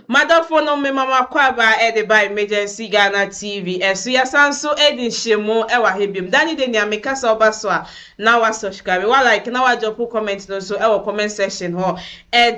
M'adɔfo nom mema mo akwaaba de ba Emergency Ghana TV so yɛasan nso adi nhyiamu wɔ aha biom da ne da nua meka sɛ woba so a na wa subscribe wa like na wa drop wo comment no nso wɔ comment section hɔ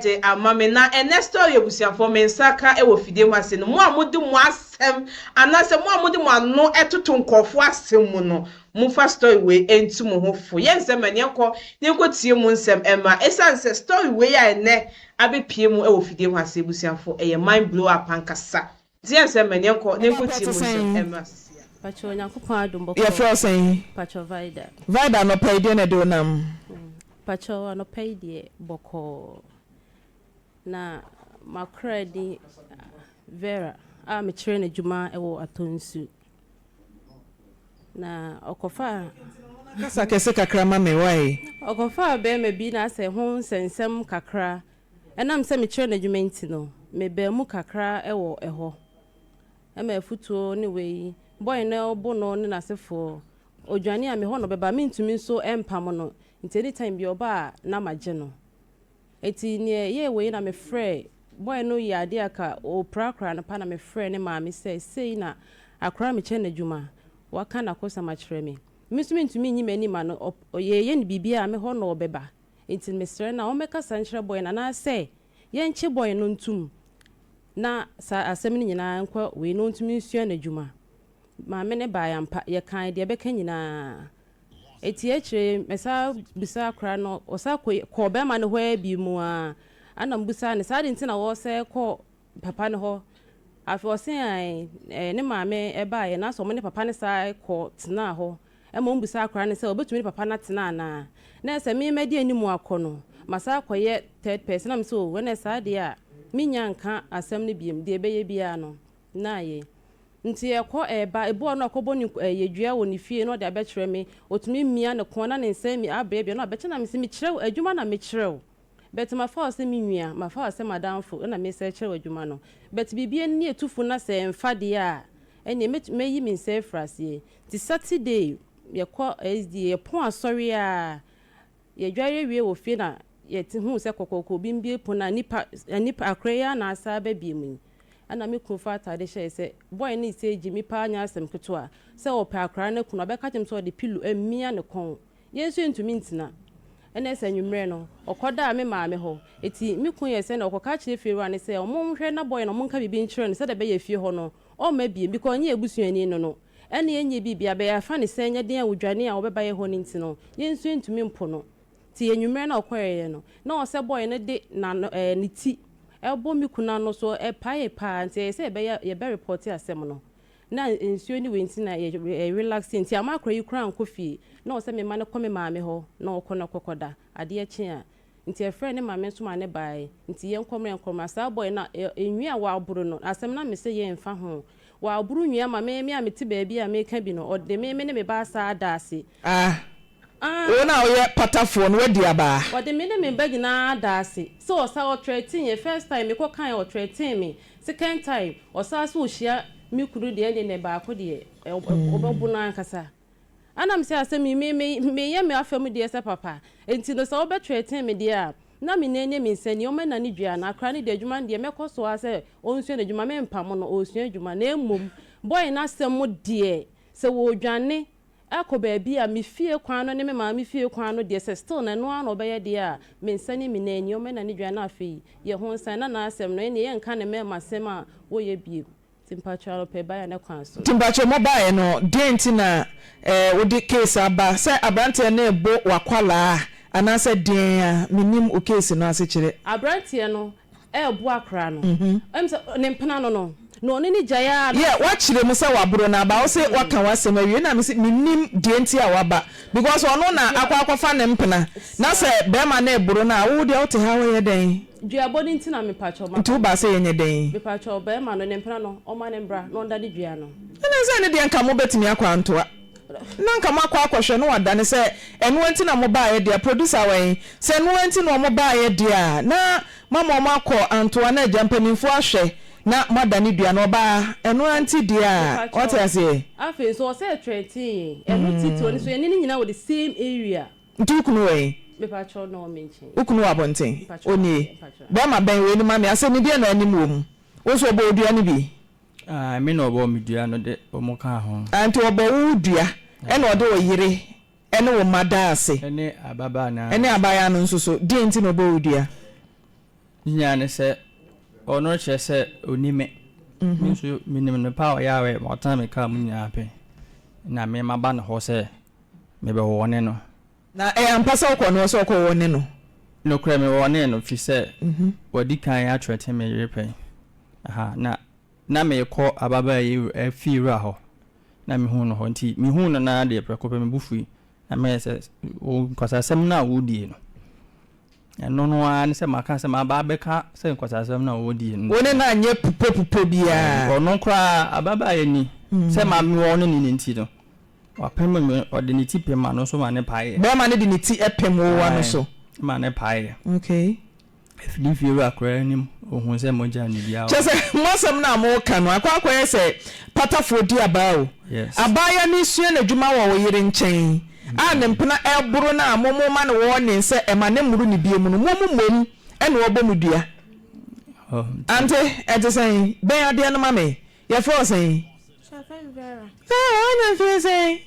de ama me na ɛnɛ story abusuafoɔ me nsa ka wɔ fidie ho ase no mo a mo de mo asɛm anaasɛ mo a mo de mo ano toto nkurɔfoɔ asɛm mu no mo fa story wei ntu mo ho fo yɛnsɛ ma ne ɛkɔ ne nkɔ tie mu nsɛm ɛma ɛsiane sɛ story wei a ɛnɛ abɛpue mu wɔ fidie hɔ ase abusuafo ɛyɛ mind blow up ankasa nti ɛnsɛ mmɛ neɛ nkɔ nenkɔ tie mu nsɛm ɛmmra sisi a. Pakyɛw Nyankopɔn adom bɔkɔɔ. Yɛfrɛ wo sɛn? Pakyɛw Vida. Vida anɔpa yi deɛ na ɛde wo nam? Pakyɛw anɔpa yi deɛ bɔkɔɔ. Na makora din Vera a mekyerɛ no adwuma wɔ Atonsu. Na ɔkɔfaa. Kasa kɛse kakra ma me, wai. Ɔkɔfaa bɛɛma bi na asɛ ho nsɛnsɛm kakra. Ɛnam sɛ mekyerɛ no adwuma nti no, mebaa mu kakra wɔ ɛhɔ. Ɛma afutuo ne wei, Bɔɔy no bo no ne n'asefoɔ, ɔdwane a, me hɔ na ɔbɛba. Mentumi nso mpamo no, nti anytime biara ɔba a na magye no. Eti nea ɛyɛe wei na mefrɛɛ boy no yɛ adeɛ a ka ɔpira akora no pa na mefrɛɛ ne maame sɛ sei na akora mekyɛ no adwuma waka nakosɛm akyerɛ me me nso mentumi nyi m'ani ma no ɔp yɛyɛ no biribiara me hɔ na ɔbɛba enti mesrɛ no a ɔmmɛkasa nkyerɛ boy no anaasɛ yɛnkye boy no ntom na saa asɛm no nyinaa nkɔ wei na ɔntumi nsua n'adwuma maame no baeɛ ampa yɛkae deɛ ɛbɛka nyinaa Etsie ekyir yi mesan bisaa akora no, ɔsan kɔ kɔɔ bɛrima no hɔ ara bio mu ara. Ana mubisaa no sɛ adɛn nti na wɔresɛɛ kɔ papa no hɔ. Afei ɔse ɛɛ ne maame baeɛ na sɛ wɔn ne papa no san kɔ tenaa hɔ. Ɛma wɔn bisaa akora no sɛ obetumi ne papa no atena anaa. Na ɛsɛ me mɛdi anim akɔ no, masan akɔyɛ third person. Ɛna mese oh, ɛna saa deɛ a, mennya nka asɛm no biom, deɛ ɛbɛyɛ biara no. na ayɛ. Nti yɛkɔ ba, ebi wɔ hɔ no ɔkɔbɔ ne nku ɛyɛ dua wɔ ne fie na ɔde abɛkyerɛ me, otumi mia ne kɔn na ne nsa mi abeabea na ɔbɛkyɛ na mese mekyerɛ wo adwuma na mekyerɛ wo but mafa wo sɛ me nua, mafa wo sɛ m'adamfo ɛna mesa ɛkyerɛ wo adwuma no but biribi ani etu fo na sɛ ɛmfa deɛ a ɛneɛ mɛtu mɛyi me nsa afiri aseɛ. Nti Saturday yɛkɔ SDA, yɛpɔn asɔre aa Yɛdware wie wɔ fie na yɛte huu sɛ kɔkɔɔkɔ bi mbie pon a nipa nipa akora yi ara na asaa ba bie mu yi. Ɛna me kunu faa ataade hyɛe sɛ boy no resɛe gye me paa nyɛ asɛm ketewa. Sɛ ɔpɛ akora no aku no a ɔbɛka akyerɛ me sɛ ɔde pillow amia ne kɔn. Yɛn nso yɛntumi ntena. Ɛna sɛ anwummerɛ no ɔkɔdaa me maame hɔ. Eti me kunu yɛɛ sɛnea ɔkɔka akyerɛ fiewura no sɛ wɔnhwɛ na boy no wɔnka biribi nkyerɛ no sɛdeɛ ɛbɛyɛ fie hɔ no ɔmma biem because ɔnyɛ yɛn abusuani no no Ɛnna ɛnyɛ biribi, abɛyɛ afã ne sɛnnyɛden a odwane a ɔbɛbaeɛ hɔ no nti no, yɛn nso yɛntumi mpo no. Te anwummerɛ no a ɔkɔeɛ no, na ɔsɛbɔɔyɛ no de n'ano, ɛɛ, ne ti rebɔ me kunu ano, so ɛpaee paa, nti ɛyɛ sɛ yɛbɛyɛ, yɛbɛrepɔɔte asɛm no. Na nsuo ne wei nti na yɛ, yɛ relaxee, nti amma akora yi koraa ankɔ fie. Na ɔsɛ memma no kɔ me maame hɔ na ɔkɔ na ɔkɔkɔda, adeɛ kye a. Nti ɛfrɛɛ ne maame nso maa ne baae. Nti yɛnkɔ mmra yɛnkɔ mmra. Saa bɔe no a nwi a wɔaboro no asɛm na mese yɛn mfa ho. Wɔaboro nwi ama me, me a mete baabi a meka bi no ɔde me, me ne me ba asan ada ase. Ah wo na woyɛ patafoɔ no wadi abaa. Ɔde me ne me ba nyinaa ada ase. Sɛ ɔsa ɔtrɛten yɛn, first time mekɔ kae a ɔtrɛten me, second time ɔsa so ɔhyia me kunu deɛ ɛnde nɛ baako deɛ ɔbɛbo no ankasa. Ɛna me sɛ asɛm yi me me meyɛ me afa mu deɛ sɛ papa enti no sɛ wobɛ threaten me deɛ a na me nan nie me nsa nie ɔmɛ nane dua no akra no deɛ adwuma no deɛ mɛkɔ so ara sɛ ɔnsua no adwuma me mpamo no ɔsua adwuma na mmom boy no asɛm mo deɛ sɛ wɔ dwane ɛkɔ baabi a me fie kwan no ne me maame fie kwan no deɛ sɛ still na ɛno ara na ɔbɛyɛ deɛ a me nsa nie me nan nie ɔmɛ nane dua no afei yɛ ho nsan na na asɛm no ɛneɛ yɛ nka ne mɛma sɛm a wɔyɛ bio Nti mpakyɛw anɔpɛ baeɛ ne kwan so. Nti mpakyɛw mo baeɛ no deɛn nti na eh wo de case aba sɛ abranteɛ no rebo wakwalaa anaasɛ deɛn a me nim wo case no ase kyerɛ. Abranteɛ no rebo akwaraa no ɛm sɛ ne mpena no no na ɔne no gyae aa na. Yɛ wakyerɛ mu sɛ waboro no aba wo se waka wasɛm awie na me se me nim deɛ nti a waba because ɔno na akɔ akɔfa ne mpena na sɛ barima no reboro no a wo deɛ wo te ha wo yɛ dɛn. Dua bɔ no nti na me pakyɛw ma. Nti wo baa sɛ yɛ nyɛ dɛn. Me pakyɛw bɛɛma no ne mpena no ɔma no mbra na ɔndane dua no. Ɛnɛ sɛ ɛno deɛ nka mo bɛtumi akɔ antoa na nka mo akɔ akɔ hwɛ na wadane sɛ ɛnoa nti na mo baayɛ deɛ a producer wɔ he sɛ ɛnoa nti na ɔmo baayɛ deɛ a na mama ɔmo akɔ antoa na agya mpaninfoɔ ahwɛ na mo adane dua no ɔbaa ɛnoa nti deɛ a wate aseɛ. Afei nso ɔsɛ ɛtrɛntee yɛn ɛno titire no nso yɛne no nyinaa wɔ the same area. Nti wo kunu wɔ he? Mepakyɛw na ɔwɔ me nkyɛn. Wo kunu wɔ abɔnten? Mepakyɛw ɔwɔ Onie? he? Mepakyɛw. Bɛɛma bɛn wei no ma me asɛmmideɛ na anim wɔ mu. Wo nso ɔbɔ wo dua no bi? Ae, me na ɔbɔɔ me dua no de wɔn kaa ho. Ae, nti ɔbɔ wo wo dua ɛna ɔde wo yere ne wo mma daa ase. Ɛne ababaa no ara. Ɛne abaayaa no nso so. Deɛn nti na ɔbɔɔ wo dua? Ne nyinaa ne sɛ, ɔno rekyerɛ sɛ ɔnim me. Me nso menim no paa, ɔyɛ a ɔyɛ ma ɔtena me kaa mu nyinaa pɛn. Na me maba no hɔ sɛ Mebɛwɔne no. Na ɛyɛ ampa sɛ ɔkɔɔ ne hɔ sɛ ɔkɔwɔne no? Nokorɛ mewɔnee no, firi sɛ wadi kan akyerɛte me yere pɛn, na na merekɔ ababaa yi fiewura hɔ, na mehuu no hɔ. Enti mehuu no no ara deɛ, prɛko pɛ, me bo fui, na meyɛɛ sɛ, Wo nkwasasɛm no a woredie no. Ɛno no ara ne sɛ maka sɛ maba abɛka sɛ nkwaseasɛm no a wɔdii no. Wo ne no anyɛ pupopupɔ biara. Ɔno koraa, ababaa yi ni, sɛ ma me wɔ ne ne no nti no, wapem me, ɔde ne ti pem m'ano so ma ne paeɛ. Barima no de ne ti pem wo ano so. Ae, ma ne paeɛ. Okay. Ɛfiri ne fiewura koraa anim, ɔhuu sɛ mogya nni biara wɔ hɔ. Kyerɛ sɛ, mo asɛm no a moreka no, akɔ akɔyɛ sɛ patafoɔ di abaa o. Yes. Abaayewa no resua n'adwuma wɔ wo yere nkyɛn, a ne mpena ɛboro no a momo ma no warning sɛ ɛma ne mmoro ne bie mu no momo mmom ɛna ɔbɔ mo dua Ante ɛte sɛn bɛn adeɛ no ma me yɛfrɛ wo sɛn Sarah wanya mfeɛ sɛn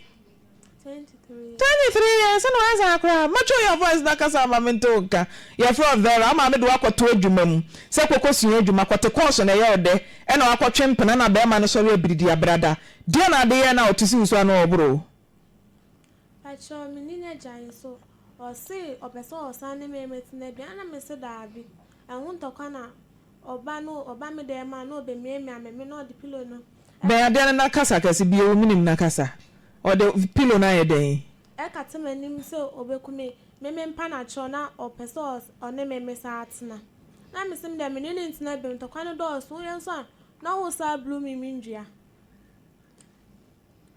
23 years ɛna wasa akora mɛtwe your voice na kasa ama me nte wo nka yɛfrɛ wo Vera ama me de wakɔto adwuma mu sɛ kɔkɔ sua adwuma kɔte kɔɔso na ɛyɛ wo dɛ ɛna wakɔtwe mpena na bɛrima no sɔre abiridi abrada deɛ na ade yɛ na ɔte si wo so ano ɔboro Pakyɛw menni n'agya yi so ɔse ɔpɛ sɛ ɔsan ne me metsena bi a na mese daabi ɛho ntɔkwa na ɔba no ɔba me dan mu a na ɔbɛmiamia me me na ɔde pillow no Bɛn adeɛ no na kasa kɛse bi ewom nim na kasa ɔde pillow no ayɛ dɛn. ɛkata m'anim sɛ ɔbɛku me me mempa no akyɛw na ɔpɛ sɛ ɔne me me saa tena na mese medeɛ mene no ntena biom ntɔkwa no dɔɔso woyɛ nso a na wosaa blue me me ndua.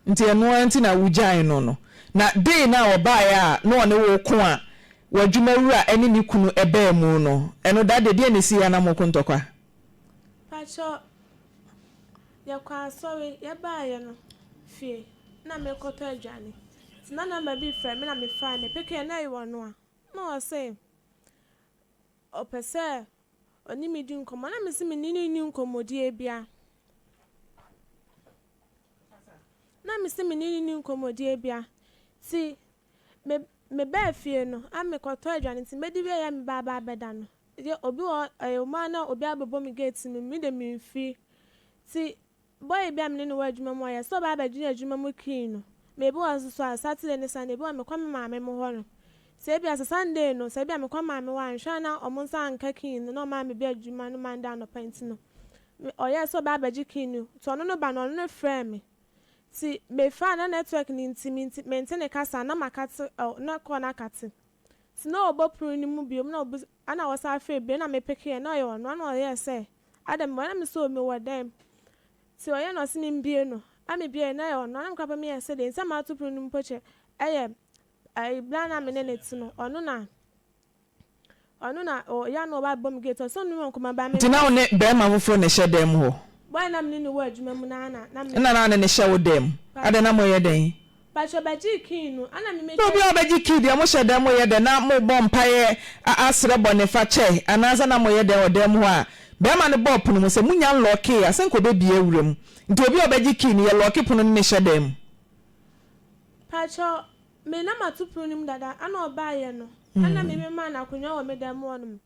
Nti ɛno ara nti na wogyaee no no. Na dei no a ɔbaeɛ a na ɔne wo ko a w'adwumawura ne ne kunu baa mu no, ɛno da deɛ deɛn na ɛsiiɛ a na moko ntɔkwa? Pakyɛ yɛkɔɔ asɔre, yɛbaeɛ no fie na merekɔtɔ aduane nti na number bi refrɛ me na mefaa no, mepekee na ɛyɛ ɔno a na ɔse ɔpɛ sɛ Ɔne me di nkɔmmɔ na me se me ne no nni nkɔmmɔdie bia na me se me ne no nni nkɔmmɔdie bia nti me me baa fie no a me kɔ tɔ aduane nti mɛdi wie yɛ me ba aba abɛda no yɛ obi wɔ hɔ ɛyɛ ɔmo a na obi abɛbɔ me gate no me de me mfiri nti Bɔ ebi a me ne no wɔ adwuma mu a yɛsɛ ɔbaa bɛgyina adwuma mu kii no ma ebi wɔ nso so a Saturday ne Sunday ebi wɔ me kɔ me maame mo hɔ no sɛ ebi a sɛ Sunday no sɛ ebi a me kɔ maame hɔ anhwɛ a na ɔmo nsa anka kii no na ɔmaa me bi adwuma no Monday anɔpa nti no me ɔyɛɛ sɛ ɔbaa bɛgye kii no ti ɔno no ba no ɔno no frɛɛ me ti me faa na network no nti me nti mente ne kasa na makate ɔ na call no akate ti na ɔbɔ pon no mu biom na ɔbisa Ana wɔsan frɛ bio na me pekeɛ na ɔyɛ ɔno ana ɔyɛɛ sɛ ada mewɔ na me sɛ o mewɔ dɛm ti ɔyɛ na ɔse me mbie no na me biaɛ na ɛyɛ ɔno ana me kora pɛ meyɛ sɛ dei nsɛm ato pono no mu pokyɛ ɛyɛ ɛyi bere ana me ne ne te no ɔno na ɔno na ɔyɛ ana ɔba bɛbɔ me gate ɔse ɔne me wɔ nkɔmɔ baa me Nti na wo ne bɛɛma foforɔ na ɛhyɛ dan mu hɔ? Boy na me ne no wɔ adwuma mu no ana na me. Ɛna na ne ne hyɛ wo dan mu? Adɛn na mo yɛ dɛn Pakyɛ bɛgyee kii no ana me mɛtwa. Obi a ɔbɛgye kii deɛ mohyɛ dɛm moyɛ dɛn na mobɔ mpaeɛ asrɛ bɔnefakyɛ anaasɛ na moyɛ dɛn wɔ dɛm hɔ a bɛɛma no bɔɔ pono mu sɛ monya nlɔɔkee a sɛ nka ɔbɛbie awura mu nti obi a ɔbɛgye kii no yɛ lɔɔke pono no ne hyɛ dɛn mu. Pakyɛ me na mato pono no mu dada ana ɔbaeɛ no ana me memaa no akonwa wɔ me dɛm hɔ nom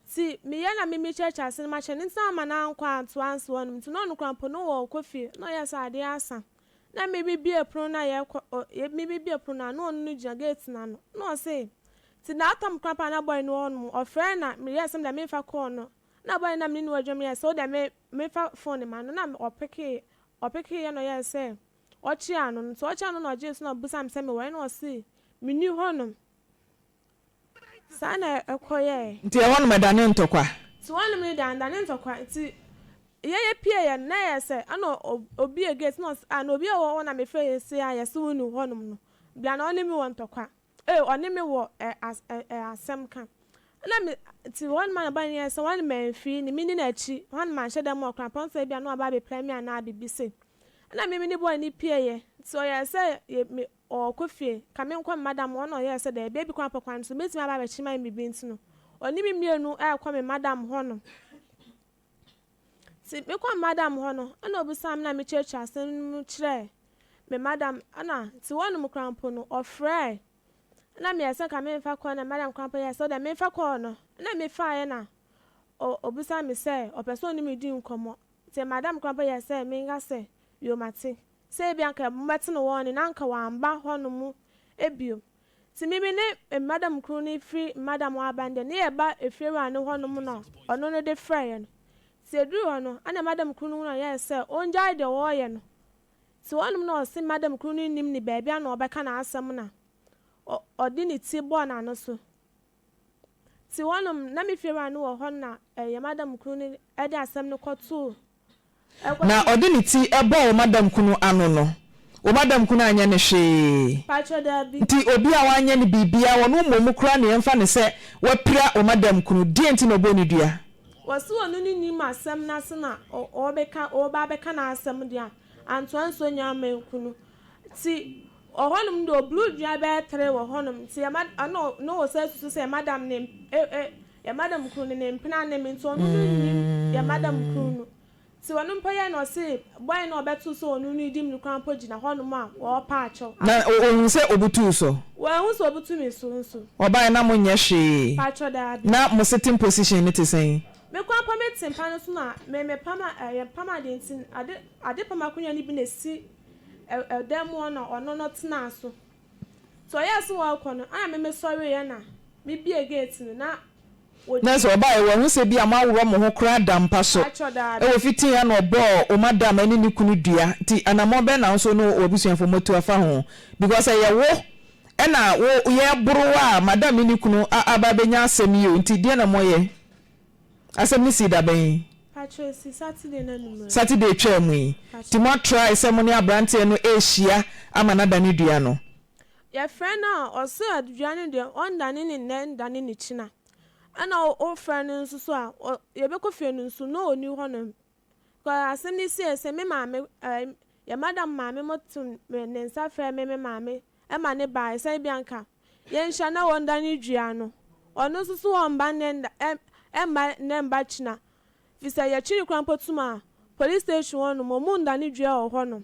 nti meyɛ na me mekyɛkyɛ ase no makyɛ no nti na ama no ankɔ antoa nso hɔ nom nti na ɔno koraa mpo na ɔɔkɔ fie na ɔyɛ sɛ adeɛ asa Na mebibie pono no a yɛkɔ ɔ yɛ mebibie pono no a na ɔno no gyina gate no ano. Na ɔse, Tse that time koraa paa na boy no wɔ hɔ nom. Ɔfrɛɛ na meyɛɛ sɛ meda memfa call no. Na boy no na mene no wɔ adwuma meyɛɛ sɛ wodɛ me mefa phone ma no na ɔpekee ɔpekee yɛ na ɔyɛɛ sɛ ɔkye ano no. Ntsi ɔkye ano na ɔgyee so na ɔbisaa me sɛ mewɔ he na ɔse, Menni hɔ nom. Saa na ɛkɔyɛe. Nti ɛhɔnom ɛdanee ntɔkwa. Nti hɔnom no dan danee ntɔkwa. Nti yɛ yɛ pieeɛ no, na ɛyɛ sɛ ɛna ɔbue gate na ɔse, ah, na obi a ɔwɔ hɔ na mefrɛ yɛ sei a yɛse wo nni hɔnom no, bla na ɔne me wɔ ntɔkwa. Ei, ɔne me wɔ asɛm ka. Ɛna me, nti hɔnom a na bɔne no yɛɛ sɛ hɔnom mamfiri no, medi n'akyi, hɔnom manhyɛ da mu ɔkora mpɔn sɛ ebia na waba abɛpira me anaa biribi sei. Ɛna me mede bɔne no pieeɛ. Nti ɔyɛɛ sɛ yɛ, me, Ɔɔkɔ fie, ka me nkɔ me madam hɔ na ɔyɛɛ sɛ daabi, ebi koraa pɛ kwan no so, mɛtumi aba abɛkye ma me biribi nti no, ɔne me mmienu ɛɛkɔ me madam hɔ nom. Nti me kɔ me madam hɔ no, ɛna ɔbisaa me na me kyerɛkyerɛ asɛm no mu kyerɛɛ me madam, ɛna nti hɔ nom koraa mpo no, ɔfrɛɛ, ɛna me yɛɛ sɛ nka me nfa kɔɔ na me madam koraa mpo yɛɛ sɛ ɔdɛ me nfa kɔɔ no, ɛna me faeɛ na ɔ ɔbisaa me sɛ ɔpɛ sɛ ɔne me di nkɔmɔ, nti me madam koraa mpo yɛɛ sɛ me nka sɛ yoo mate. Sɛ ebia anka mobɛte no hɔ ɔne no a anka wamba hɔnom bio. Ntsi me me ne mbadam kor no fir mbadam ɔaba no dɛ ne yɛba efiewura no hɔnom na ɔno no de frɛɛ no. Ntsi edur hɔ no ana mbadam kor no hu no ɔyɛɛ sɛ ongyae deɛ ɔɔyɛ no. Ntsi hɔnom na ɔse mbadam kor no nnyim ne baabi ana ɔbɛka n'asɛm na ɔ ɔde ne tsir bɔɔ n'ano so. Ntsi hɔnom na me fiewura no wɔ hɔ na ɛɛ yɛ mbadam kor no de asɛm no kɔtoo na ɔde ne ti bɔɔ wo madam kunu ano no, wo madam kunu anyɛ no hwee. Nti obi a wanyɛ no biribiara, ɔno mmom koraa na yɛmfa no sɛ wapira wo madam kunu. Deɛn nti na ɔbɔ no dua? Wɔse ɔno ne nim asɛm no ase na ɔrebeka ɔreba abɛka n'asɛm deɛ antoa nso ɔnyaa man kunu nti ɔhɔ nom deɛ ɔboro dua bɛyɛ three wɔ hɔ nom nti ɛma ɛna ɔwɔ sɛ asusu sɛ madam no Yɛ madam kunu no ne mpena ne me nti ɔno no nnim yɛ madam kunu no nti ɔno mpo yɛ na ɔse bɔn na ɔbɛto sɛ ɔno no di me no koraa mpo gyina hɔ nom a ɔɔpa akyɛw Na ato so. ɔhun sɛ ɔbutuu so? Wanhu sɛ ɔbutu me so nso. Ɔbaeɛ na mo nyɛ hwee? Mpakyɛw daabi. Na mo sitting position no te sɛn? Me koraa mpo me te mpa no so na me me pam a yɛ pam ade nti ade ade pam akonwa no bi na ɛsi ɛ ɛdan mu hɔ na ɔno no tenaa so. Nti ɔyɛɛ se ɔɔkɔ no, ana me mesɔreeɛ na mebiee gate no na Na ɔdii. sɛ ɔbaeɛ, wahu sɛ ebia moaworɔ mo ho koraa da mpa so. Paatwɔ daabi. Wɔ fitee a na ɔbɔɔ wo madam ɛne ne kunu dua nti anamɔn bɛn na wo nso ne w'abusuafoɔ moatu afa ho? Because ɛyɛ wo ɛna wo yɛ boro a madam ne ne kunu a aba abɛnya asɛm yi o nti deɛn na moyɛ? Asɛm no sii da bɛn? Pakyɛ esi Saturday no anummerɛ. Saturday twaa mu yi. Pakyɛ. Nti mo try sɛ mo ne abranteɛ no ɛrehyia ama no adane dua no? Yɛfrɛ no a ɔse adua no deɛ ɔndane no nnɛ ndane no kyina. Ɛna wo frɛ no nso so a ɔ, yɛbɛkɔ fie no nso no ɔni hɔ nom. Kɔ asɛm no siei sɛ me maame ɛɛ yɛn madam maame mo to ne nsa frɛ me me maame ɛma ne baeɛ sɛ ebi anka yɛn hyia na wɔn da ne dua no ɔno nso so wɔn mma nnɛ nna ɛm ɛmma nnɛ mma kyina fisɛ yɛkyere kora mpo tum a police station hɔ nom ɔmo nda ne dua wɔ hɔ nom.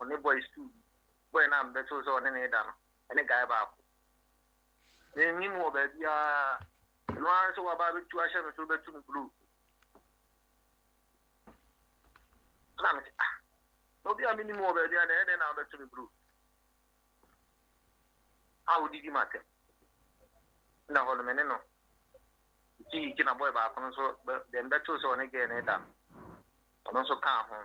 ɔne bɔe sukuu bi, bɔe no a mebɛtoo sɛ ɔne me da no, ɛne guy baako. Mennim wɔ baabiara, ɛno ara sɛ waba abɛtu ahyɛ me so bɛtu me blow. Na mete ah, na obi a mennim wɔ baabiara na ɛyɛ dɛn na wabɛtu me blow? A wodidi m'atɛm. Na hɔ no me ne no. Ti na bɔe baako no nso, deɛ mebɛtoo sɛ ɔne gɛɛ ne da no, ɔno nso kaa ho.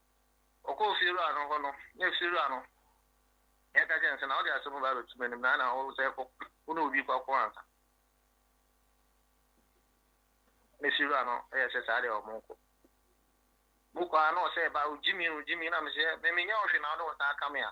Ɔkɔɔ fiewura no hɔ no, na afiewura no ka kyerɛɛ no sɛ, 'Na wode asɛm no ba abɛto m'anim, na na wo sɛ wo ne obi rekɔko ansa. Na fiewura no yɛ sɛ, 'Saa deɛ, monkɔ. Mokɔ a na ɔsɛ ba, ogyimi, ogyimi, na mesɛ, 'Menyɛ wo hwee na wode wo nsa aka me a?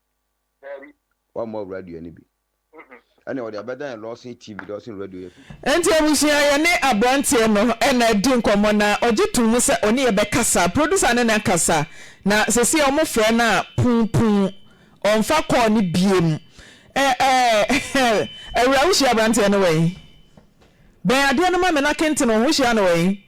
wammɔ radio no bi ɛna ɔde abɛdan lɔsen tv lɔsen radio yɛ fɛ. Nti abusua yɛ ne aberanteɛ no ɛna adi nkɔmmɔ na ɔgye to mu sɛ ɔne yɛ bɛ kasa producer ne na kasa na sɛsi ɔmo frɛ no a pun pun ɔnfa call no biem ɛɛ awura wo hyia aberanteɛ no wɛn bɛn adeɛ no ma me na kenten wo hyia no wɛn.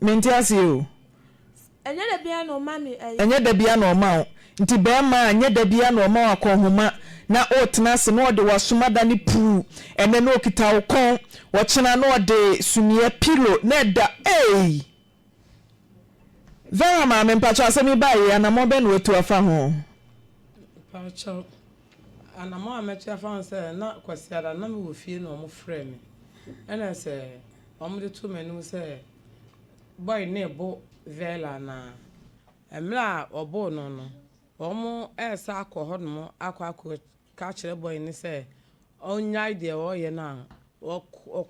Mente aseɛ o. Ɛnyɛ da biara na ɔma me ɛyi. Ɛnyɛ da biara na ɔma wo. Nti barima a, ɛnyɛ da biara na ɔma wo akɔnhoma na wotena ase na ɔde w'asom adane puu. Ɛnnɛ na ɔkita wo kɔn, ɔkyena na ɔde suneɛ, pillow, na ɛda ei! Vera maame, mpakyɛw asɛm yi baeɛ yi, anamɔn bɛn na watu afa ho? Mpakyɛw. Anammɔn a mɛto afa ho sɛ na Kwasiada no na mewɔ fie na wɔfrɛɛ me. Ɛna sɛ wɔde too m'anim sɛ boy no rebo Vella anaa. Mmerɛ a wɔboo no no, wɔresa akɔ hɔnom akɔ akɔka akyerɛ boy no sɛ ɔnyae deɛ ɔreyɛ no a,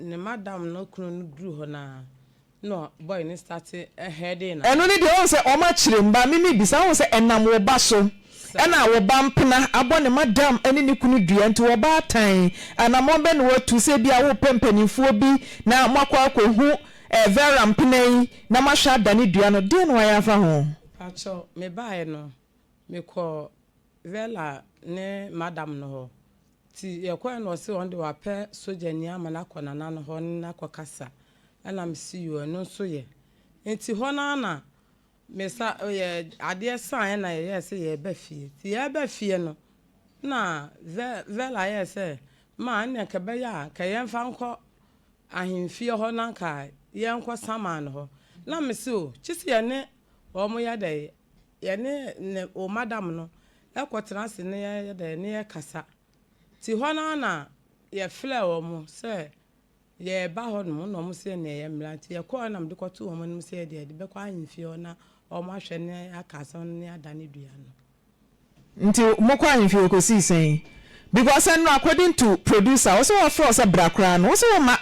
ne madam no kunu no duru hɔ no ara, Nna boy no starte herding na. Ɛno ne deɛ ɔhu sɛ ɔma kyerem ba me me bisa ɔhu sɛ ɛnam wo ba so ɛna wo ba mpena abɔ ne madam ɛne ne kunu dua nti wɔ ba atan anamɔn bɛ na watu sɛ ebia wo pɛ mpaninfoɔ bi na mo akɔ akɔ hu ɛɛ Vera mpena yi na mo ahwɛ adane dua no deɛn na wayɛ afa ho. Pakyɛ me baɛ no me kɔ Vella ne madam no hɔ Nti yɛkɔɛ na ɔse ɔnde wapɛ sogyani ama no akɔ nana no hɔ ne no akɔ kasa ɛna mese yoo ɛno nso yɛ. Nti hɔ no ara na me sa yɛ adeɛ saeɛ na yɛyɛɛ sɛ yɛɛba fie. Nti yɛɛba fie no na Ve Vella yɛɛ sɛ ma ɛnneɛ nka ɛbɛyɛ a nka yɛmfa nkɔ ahenfie hɔ na nka yɛnkɔ saman hɔ. Na mese oo kyese yɛne wɔn yɛ dɛn Yɛne ne o madam no kɔ tena ase ne yɛ yɛ dɛn ne yɛ kasa ti hɔ no ara na yɛ flɛ wɔn sɛ yɛ ba hɔ nom na wɔn se neɛ yɛ mmra nti yɛ kɔɔ na mede kɔ too wɔn anim sɛ yɛ deɛ yɛde bɛkɔ ahemfie hɔ na wɔn ahwɛ ne aka asɛm no ne ada ne dua no. Nti mo kɔ ahemfie hɔ kɔsii sɛn because ɛno according to producer ɔse wɔfrɛ wo sɛ bra koraa no wose wo mma.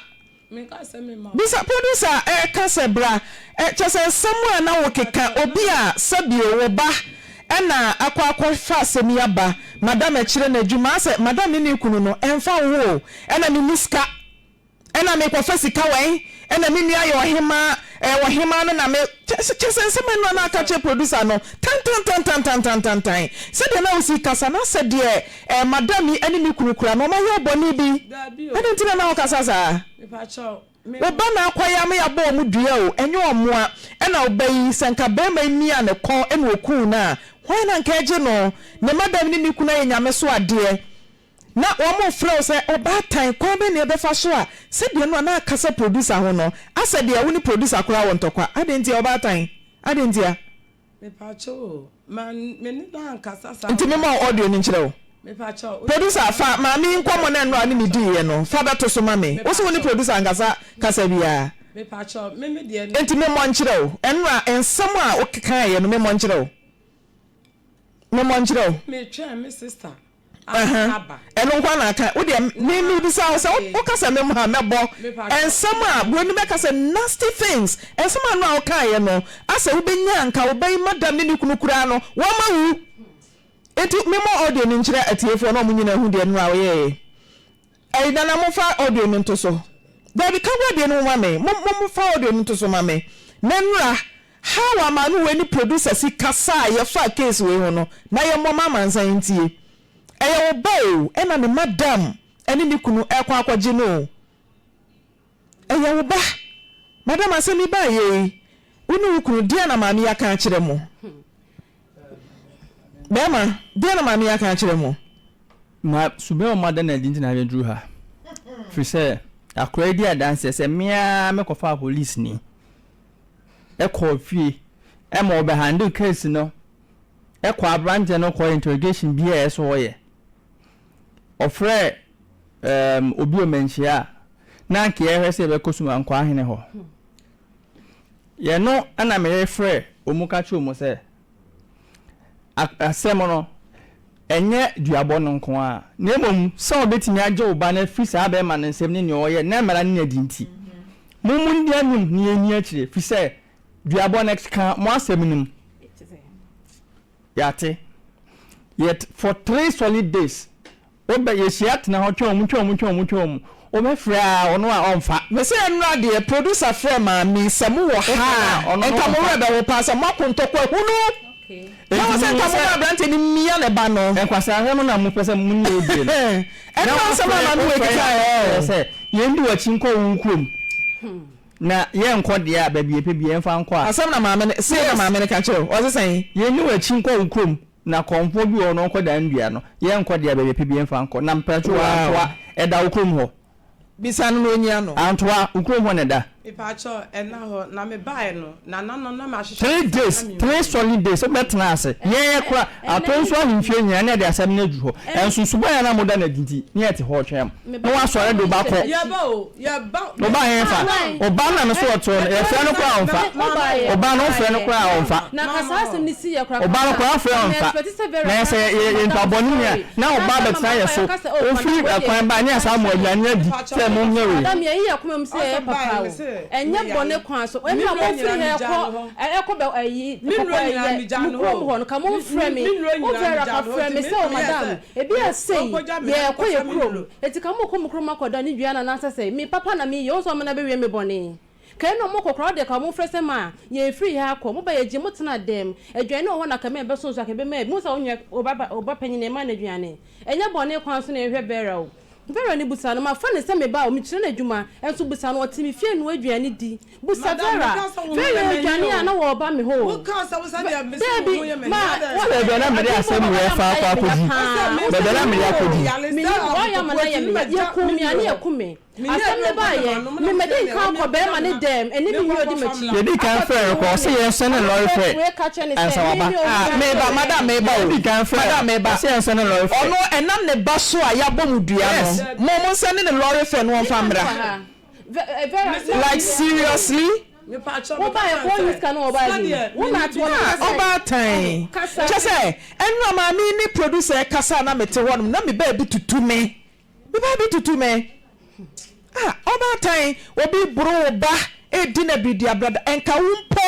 Bisa producer a ɛka sɛ bra. Kyerɛ sɛ nsɛm a na wokeka obi a sɛbio wo ba na akɔ akɔfa asɛm yi aba madam ɛkyerɛ n'adwuma asɛ madam ne ne kunu no ɛmfa wo ho o ɛna menni sika ɛna mekɔfa sika wɛn ɛna me nua yɛ ɔhemaa ɛɛ ɔhemaa no na me kyerɛ sɛ nsɛm ɛno a na aka kyerɛ producer no tantantantantantantantan sɛdeɛ na wosi kasa no asɛ deɛ Eh, madam yi ne ne kunu kura no, wɔayɛ bɔne bi? Dabi o. Ɛno nti na na wokasa saa? Mepakyɛw, me. Wo ba na akwae ama yɛabɔ wɔn dua o, ɛnyɛ wɔn mmoa. Ɛna wo ba yi, sɛ nka barima yi miaa ne kɔn na wɔkuu no a, hwan na nka ɛgye no? Ne madam yi ne ne kunu ayɛ Nyame so adeɛ, na wɔrefrɛ wo sɛ ɔbaatan, kwan bɛn na yɛbɛfa so a sɛdeɛ no a na akasa producer ho no, asɛ deɛ wo ne producer koraa wɔ ntɔkwa. Adɛn ntia, ɔbaatan? Adɛn ntia? Nti mema wo audio no nkyerɛ wo. Producer fa maame yi nkɔmmɔ no ɛno a ɔne me diiɛ no fa bɛto so ma me. Wose wone producer ankasa kasa biaa nti memmɔ nkyerɛ wo ɛno a nsɛm a wokaeɛ no memmɔ nkyerɛ wo memmɔ nkyerɛ wo. aba. Ɛno nko ara na aka. Wo deɛ me mebisa wo sɛ wo ka sɛ me mha mɛbɔ nsɛm a buroni bɛka sɛ nasty things nsɛm a no a wo kaeɛ no asɛ wo bɛnya anka wo ba yi madam ne ne kunu koraa no wɔn ma wu nti me mɔ audio no nkyerɛ atiefoɔ na wɔn nyinaa hu deɛ no a ɔyɛɛyɛ Ei Nana momfa audio no nto so. Dabi ka guadeɛ no mu ma me mo mo mo fa audio no nto so ma me na nura how a maame wei ne producer si kasa a yɛ fa case wei ho no na yɛ mmɔ ma amansan ntie ɛyɛ wo ba oo ɛna ne madam ɛne ne kunu ɛkɔ akɔgye no oo. Ɛyɛ wo ba? Madam, asɛm yi baeɛ yi, wo ne wo kunu, deɛn na maame yi aka akyerɛ mo? Barima, deɛn na maame yi aka akyerɛ mo? Ma, suban a wɔada no adi nti na yɛduru ha. Ɛfiri sɛ, akoraa yi di adanseɛ sɛ me ara mekɔfaa polisini kɔɔ fie ma ɔbɛhandle case no kɔɔ aberanteɛ no kɔɔ interrogation biara a ɛsɛ sɛ ɔyɛ. Ɔfrɛɛ um obi wɔ manhyia a, na anka yɛhwɛ sɛ yɛbɛkɔ Suma Nkwaahene hɔ. Yɛno na meyere frɛ wɔn ka kyerɛ wɔn sɛ, asɛm no, ɛnyɛ duabɔ no nko ara, na mmom sɛ wɔbɛtumi agye wo ba no afiri saa bɛrima no nsam ne nea ɔyɛ na mmara no nya di nti. Mo mo nni anim na yɛnni akyire, ɛfiri sɛ duabɔ no ɛkeka mo asɛm no mu. Yɛate. Yet for three solid days, wobɛ, yɛhyia tena hɔ, twɛn wɔn, twɛn wɔn, twɛn wɔn, twɛn wɔn. Wobɛfrɛ a, ɔno a ɔmfa. Mese ɛnora deɛ producer frɛ maame sɛ mo wɔ ha a nka mo werɛ bɛho paa sɛ moako ntɔkwa ahunu na wɔsɛ nka mo ma abranteɛ no mmia ne ba no. Nkwaseasɛm no na mo pɛ sɛ mo ne yɛ die no. Ɛnora nsɛm a maame wei keka ɛɛ. Sɛ yɛn di wakyi nkɔ wo kurom. Na yɛnkɔ deɛ a, baabi a yɛpɛ biara, yɛmfa nkɔ a. Asɛm na maame no, sei na maame no ka kyerɛɛ wo, ɔse sɛn? Yɛnni w'akyi nkɔ wo kurom, na kɔmfoɔ bi wɔ hɔ na ɔnkɔ dan nnua no, yɛnkɔ deɛ a, baabi a yɛpɛ biara, yɛmfa nkɔ. Na mpatwoo, Wow. antoa, ɛda wo kurom hɔ? Bisa no na ɔnyia no. Antoa, wo kurom hɔ na ɛda? Mepakyɛw, ɛnna hɔ, na mebaeɛ no, Three days, three solid days, wo bɛ tena ase, yɛɛ kora, atɔ nso ahu mfie nyinaa ne ɛde asɛm no aduru hɔ, ɛnso suban a na mo da no adi nti, ne yɛ te hɔ ɔtwɛm, na wa sɔre de wo ba kɔ, wo ba he fa, wo ba no na me so ɔte hɔ no, yɛ frɛ no koraa a ɔmfa, wo ba no wo frɛ no koraa a ɔmfa, wo ba no koraa wo frɛ ɔmfa, na yɛ sɛ yɛ yɛ nnipa bɔne nyinaa, na wo ba bɛ tena yɛ so, wo firi ɛkwan ba a ne yɛ saa mo aduane adi sɛ mo nyɛ wei. Ɛnyɛ bɔne kwan so. Ebia momfiri ha ɛkɔ ɛ, ɛkɔ bɛ ayi, kɔkɔ ɛyɛ, mo kurom hɔ no, ka momfrɛ me. Wo Vera ka frɛ me sɛ, O madam, ebia sei, yɛrekɔ yɛn kurom. Enti ka mokɔ mo kurom akɔda ne dua no anaasɛ sɛ, me papa na meyɛ, wohu sɛ ɔmena bɛwie me bɔne. Ka ɛno a mokɔ koraa, wodeɛ ka momfrɛ sɛ ma yɛmfiri ha akɔ. Moba yɛgye mo tena dɛm. Aduane wɔ hɔ na ka mɛ bɛso nso a ka bɛma bi. Wohu sɛ wo nua, wo ba, wo ba panin no, yɛmma no aduane. Ɛnyɛ bɔne kwan so na yɛhwɛ Vera o. Vera no busa no, Mafa no sɛ me ba o, mekyerɛ no adwuma nso busa no, ɔte me fie noa aduane di. Busa Vera, Vera aduane a na wɔba me hɔ o. Dabi, ma wɔnyɛ me aduane a mede ama no ama no ayɛ me ya paa. Wo sɛ menni hɔ o, menni hɔ, wɔayɛ ama no ayɛ me ya, yɛkum me, ane ɛko me. Asɛm no baeɛ. Mede nkaw kɔ barima no dɛm ne ne yere odi m'akyi. Yɛdii kan frɛɛ no kɔɔ ɔse yɛnsɔ ne lɔre frɛ ansa waba. Ah meba madam meba o madam meba ɔse yɛnsɔ ne lɔre frɛ. Ɔno ɛnam ne ba so a yɛabɔ mo dua no mo monsɛne ne lɔre fɛ no ɔmfa mmra like seriously. Ah ɔbaatan kyɛsɛ ɛno a maame yi ne producer ɛkasa a na mete hɔ nom na me baabi tutu me Wo ba bi tutu me a ɔbaatan obi boro wo ba redi no abiridi abrada ɛnka wo mpo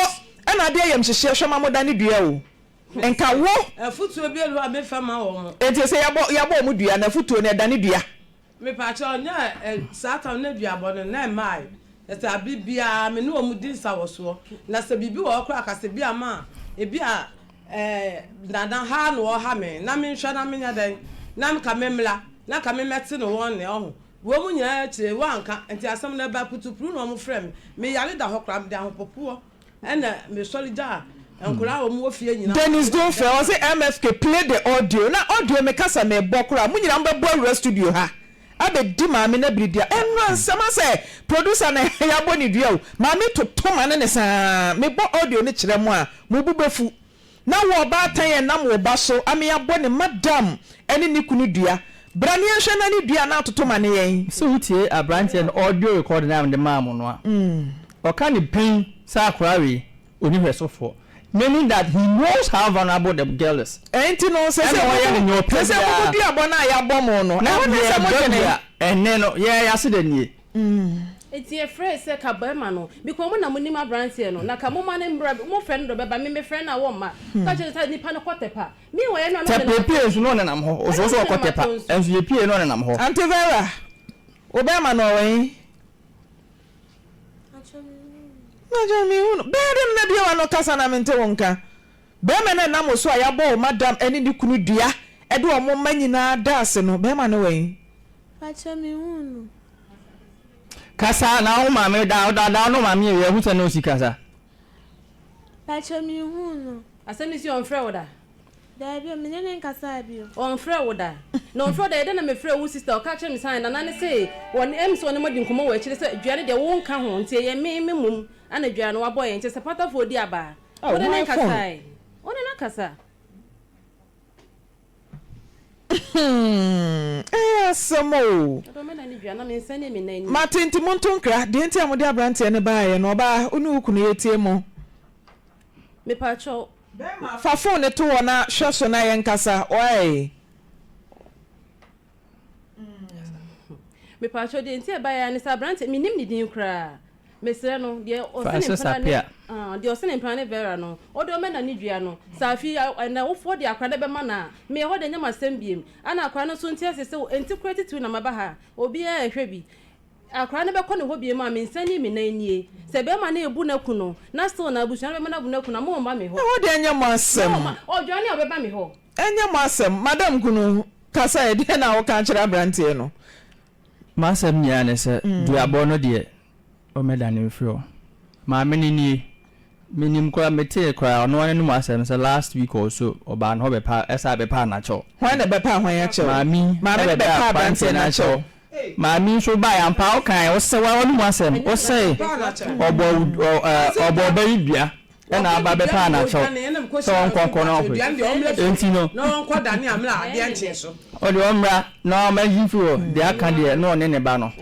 na ade ayamhyehyeɛ hwɛ ma mo da ne dua o ɛnka wo Afutuo bi ɛlu a me fɛ ma wɔn. Ɛnti sɛ yabɔ yabɔ wɔn dua no afutuo no ɛdane dua. Mepakyɛw nyɛ ɛ saa tam no aduabɔ no na ɛmmae ɛsɛ abere biara me ne wɔn di nsawɔsoɔ na sɛ biribi wɔ hɔ koraa a kasɛ bi a ma a ebi a Ɛɛ, na na ha na wɔha me, na menhwɛ na menyɛ dɛn? Na nka memmra, na nka memmɛte ne wɔn nne, ɔho. Wei mu nyinaa akyire, wɔanka, nti asɛm no ɛbaa putupru na wɔfrɛɛ me. Me yare da hɔ koraa, mede ahopopoɔ na mesɔre gyaa nkwadaa a wɔwɔ fie nyinaa. Dennis Dunfeh, ɔse MFK play the audio, na audio mekasa mebɔ koraa, mo nyinaa mobɛbɔ awura studio ha. abɛdi maame no abiri deɛ ɛnnora nsɛm asɛ producer no ɛhɛɛ yɛabɔ ne dua o maame toto ma ne ne saa mebɔ audio no kyerɛ mo a mo bo bɛfu na wo ɔbaatan ɛnam wo ba so ame abɔ ne madam ɛne ne kunu dua bra ne yɛnhwɛ na ne dua na atoto ma ne yɛn. Sɛ wo tie abranteɛ no audio recording a mede maa mo no a ɔka ne pin sɛ akora wei. Onihwɛsofo, meaning that he knows how vulnerable the girl is. Enti no, sɛ sɛ mobɛdu abɔn a yɛabɔ mo no, ɛhɔ na ɛsɛ sɛ modwene. Ɛnnɛ no, yɛn ase da nie. Enti yɛfrɛe sɛ, Ka barima no, because mo na munim aberanteɛ no, na ka momma no mmra, mofrɛ no de ɔbɛba, me mefrɛ no a wɔmma. Ka kyerɛ no sɛ, Nipa no kɔ Tepa. Meanwhile, yɛn nuanom nenam atɔnso. Tepa, yɛpue nso na ɔnenam hɔ. Ɔsuro sɛ ɔkɔ Tepa, nanso yɛpue na ɔnenam hɔ. Auntie Vera, wo barima no ɔwɔ he? Na gya me hu no. Bɛyɛ dɛ mena bi a w'ano kasa na mente wo nka. Bɛrima no a ɛnam wo so a yɛabɔ wo madam ne ne kunu dua de wɔn mma nyinaa da ase no, bɛrima no wɛn? Pakyɛ me hu no. Kasa na wo maame da, wo dada ne wo maame yɛ wei, hu sɛ na osi kasa. Pakyɛ me nhuu no. Asɛm no si ɔnfrɛ wo da. Daabi o, me ne no nkasaa bi o. Ɔnfrɛ wo da. Na ɔnfrɛ wo da yɛ dɛn na mefrɛ wo sister ɔka kyerɛ me sɛ ae Nana no se wɔne ɛm sɛ wɔne mo adi nkɔmmɔ wɔ akyire sɛ dua no deɛ wo nka ho nti ɛyɛ me me mmom ana dua no wabɔ yɛn nti sɛ patafoɔ di aba a wone no nkasae wone no kasa. Hmm, ɛyɛ asɛm o. Ɔdɔ me na ne dua na me nsa ne me nan anim. Mate nti monto nkra. Deɛ nti a mode abranteɛ no baeɛ no ɔbaa wo ne wo kunu yɛtie mo. Mepakyɛw. Bɛɛma fa phone no to hɔ na hwɛ so na yɛnkasa wae. mepatwɔ deɛ nti ɛba yɛ ne sɛ aberante menim ne din koraa mesrɛ no deɛ ɔsene mpena ne ah, deɛ ɔsene mpena ne vera no ɔde ɔmɛ na ne dua no sɛ afi ɛnɛ wofoɔ de akora no bɛma no a meyɛ hɔ de nyɛ masɛm biem ana akora no so nti ase sɛ ɛnti kora titiw na maba ha obiara ɛhwɛ bi akora no bɛkɔ ne hɔ biem a mensani me nan nie sɛ bɛrima no ebu n'aku no na still na abusua no bɛma no abu n'aku no ama ɔmma me hɔ ɛhɔ de nyɛ masɛm ɔdwane a ɔbɛba me hɔ Ɛnyɛ mo asɛm, madam kunu, kasa ɛ, deɛn na woka akyerɛ abranteɛ no? M'asɛm nyinaa ne sɛ, duabɔ no deɛ, wɔmmɛdane mfiri hɔ. Maame no nie, menim koraa, metee koraa, ɔno ara n'anom asɛm sɛ last week or so, ɔbaa ne hɔ bɛpa, ɛsaa bɛpaa n'akyɛw. Hwan na ɛbɛpaa hwan akyɛw? Maame Maame no ɛbɛpaa bɛpaa abranteɛ abranteɛ no n'akyɛw. akyɛw. Maame nso baeɛ, ampa ara wokaeɛ, wosɛ, woara w'anom asɛm, wosɛe, ɔbɔɔ wo, ɔ, ɛ, ɔbɔɔ ɔbaa yi dua. na aba abɛpa anakyɛw sɛ ɔnkɔ nkɔ na ɔhwe. Enti no, ɔde ɔmmra na ɔma yi mfiri hɔ, deɛ aka deɛ na ɔne ne ba no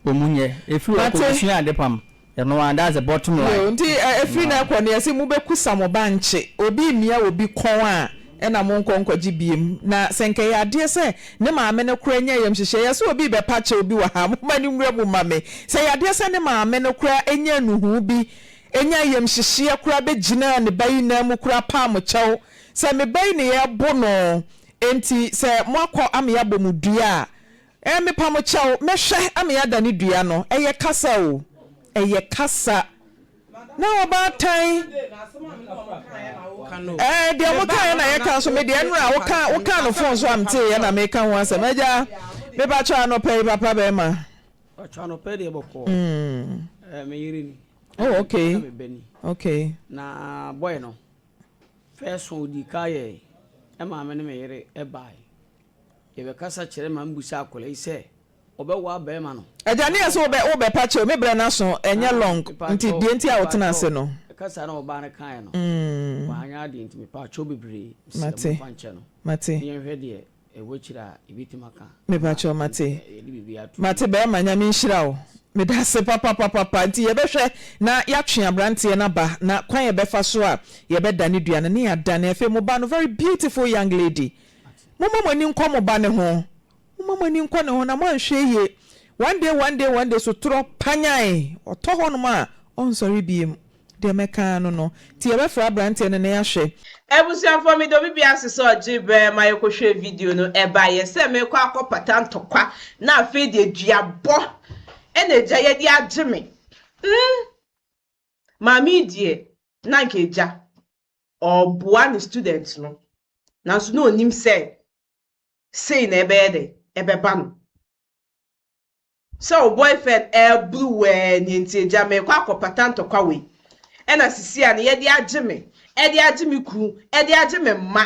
wɔn nyɛ. Ɛfiri hɔ kɔ busua adepam. Ɛno ara, that's the bottom line. Yoo, nti ɛfiri na ɛkɔ no yɛse mobɛkusa mo bankye, obi mmia obi kɔn a ɛna monkɔ nkɔgye biom. Na sɛ nka ɛyɛ adeɛ sɛ ne maame no koraa nya ayamhyehyeɛ, yɛse obi rebɛpa kyɛw bi wɔ ha, momma no nwura mu mma me. Sɛ ɛyɛ adeɛ sɛ ne maame no koraa nya nnuhuu bi, Enya ayamhyehyeɛ koraa bɛgyinaa ne ba yi nan mu koraa paa mo kyɛw sɛ me ba yi ne yɛrebo no enti sɛ moakɔ ama yɛabɔ mo dua a eh mepa mo kyɛw mɛhwɛ ama yɛadane dua no ɛyɛ kasa o ɛyɛ kasa na ɔbaatan eh deɛ mo kaeɛ na yɛka nso me deɛ nnora woka woka no fon so a meteeɛ na meka ho asɛm agya mepa kyɛw anɔpa yi papa bɛrima mm. Oh okay. Ɛna me bɛni. Okay. Na boy no first one odi ka yɛ ɛma me ne me yere ɛbae. Yɛbɛkasa kyerɛ ma mbusa akwadaa yi sɛ ɔbɛwaa bɛrima no. Agya ne yɛ sɛ wobɛ wobɛ pa kyɛw me brɛ no aso ɛnyɛ long nti deɛ nti a wotena ase no. Kasa na ɔbaa no kaeɛ no wanyɛ adeɛ nti mepaakyɛw bebree mesrɛ momfa nkyɛ no na yɛnhwɛ deɛ Mepakyɛw mate mate bɛɛma nyame nhyira wo medase papapapapa nti yɛbɛhwɛ na yatwe abranteɛ no aba na kwan yɛbɛfa so a yɛbɛda ne dua no ne yadane afei mo ba no very beautiful young lady momma moani nkɔ mo ba no ho momma moani nkɔ ne ho na moanhwɛ yie one day one day one day sotorɔ panyan ɔtɔ hɔnom a ɔnsɔre biem Deɛ mɛkaa no no. Nti yɛbɛfrɛ abranteɛ no na yɛahwɛ. Abusuafoɔ me dɔ bibi ase sɛ ɔgye berɛ ma yɛkɔ hwɛɛ video no ɛba yɛ sɛ mekɔ akɔ pata ntɔkwa na afei deɛ dua bɔ ɛna agya yɛ de agye me mm maame yi deɛ na nka agya ɔɔboa ne student no nanso na ɔnim sɛ sei na ɛbɛyɛ dɛ ɛbɛba no. Sɛ wo boyfriend ɛɛbru wo ɛɛ neɛ nti agya meekɔ akɔpata ntɔkwa wei ɛna sisi a ne yɛ de agye me ɛde agye me kunu ɛde agye me mma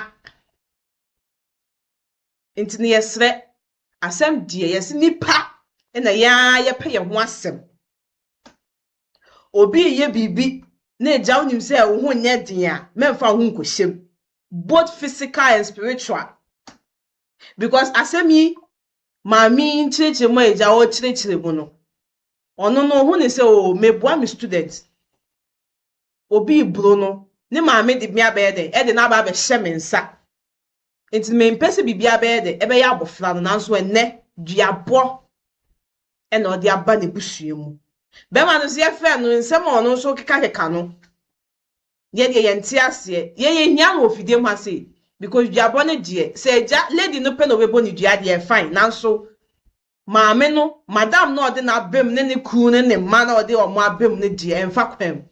nti no yɛsrɛ asɛm deɛ yɛse nipa ɛna yɛn ara yɛpɛ yɛn ho asɛm obi reyɛ biribi na agya wonim sɛ wo ho nyɛ den a mɛmfa wo ho nkɔhyɛm both physical and spiritual because asɛm yi maame yi nkyerɛkyerɛ mu a agya a ɔrekyerɛkyerɛ mu no, ɔno no ohu ne sɛ o oh, meboa me student. Obi reboro no, ne maame de me abɛyɛ dɛ, ɛde no aba abɛhyɛ me nsa. Nti mempɛ sɛ biribi abɛyɛ dɛ, ɛbɛyɛ abɔfra no, nanso ɛnnɛ duabɔ ɛna ɔde aba n'abusua mu. Bɛrima no nso yɛfrɛ no nsɛm a ɔno nso kekakeka no, yɛ deɛ yɛn nte aseɛ yɛn yɛ hia wɔ fidie mu ha sei because duabɔ no deɛ sɛ agya lady no pɛ na ɔbɛbɔ ne dua deɛ fine nanso maame no madam no a ɔde n'abam ne ne kunu ne ne mma na ɔde wɔn abam no deɛ ɛmfa kwan mu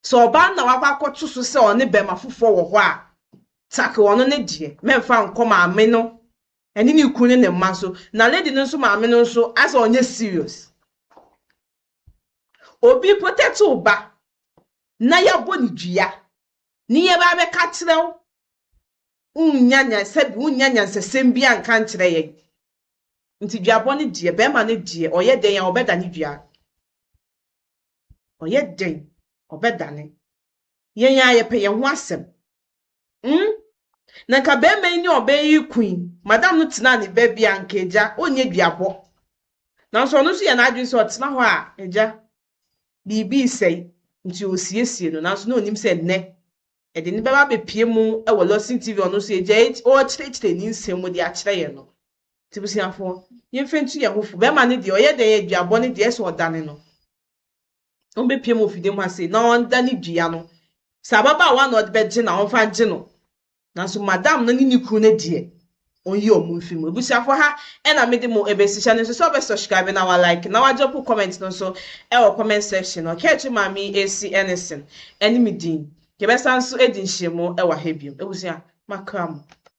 sɛ ɔbaa no na wakɔ akɔto so sɛ ɔne bɛrima foforɔ wɔ hɔ a take ɔno ne deɛ mɛmfa nkɔ maame no ɛne ne kunu ne ne mma so na lady no nso maame no nso asɛ ɔnyɛ serious. Obi mpo tɛte wo ba na yɛabɔ no dua ne yɛba abɛka akyerɛ wo, wonnya nyansa bi, wonnya nyansasɛm bi anka nkyerɛ yɛn. Nti duabɔ no deɛ, bɛrima no deɛ, ɔyɛ dɛn a ɔbɛdane dua. Ɔyɛ dɛn ɔbɛdane. Yɛn ara yɛpɛ yɛn ho asɛm. Umm na nka bɛɛma yi ne ɔbɛɛ yi reko yi madam no tenaa ne bɛɛbi a nka agya ɔnyɛ duabɔ nanso ɔno nso yɛ n'adwene sɛ ɔtena hɔ a agya biribi resɛe nti ɔresiesie no nanso na ɔnim sɛ nnɛ ɛde ne bɛba abɛpie mu wɔ Lawson TV ɔno nso agya yi ɔrekyerɛkyerɛ ne nsɛm mu de akyerɛ yɛn no nti busuafoɔ yɛmfa ntu yɛn ho fo bɛɛma no deɛ ɔyɛ dɛn yɛ duabɔ no deɛ ɛsɛ ɔdane no ɔmbɛpia mu ofidie mu ase na ɔnda ne dua no sɛ ababaawa na ɔde bɛgye no a ɔmfa ngye no nanso madam no ne ne kunu no deɛ ɔnyi ɔmo mfi mu abusuafoɔ ha ɛna mede mo ɛbɛsi hyɛ no nso sɛ ɔbɛ subscribe na wa like na wagye po comment no nso ɛwɔ comment section no ɔkɛɛkye maame yi ɛsi ɛne sen ɛne me din yɛbɛsa nso ɛdi nhyiamu ɛwɔ ha biom abusua makra mo.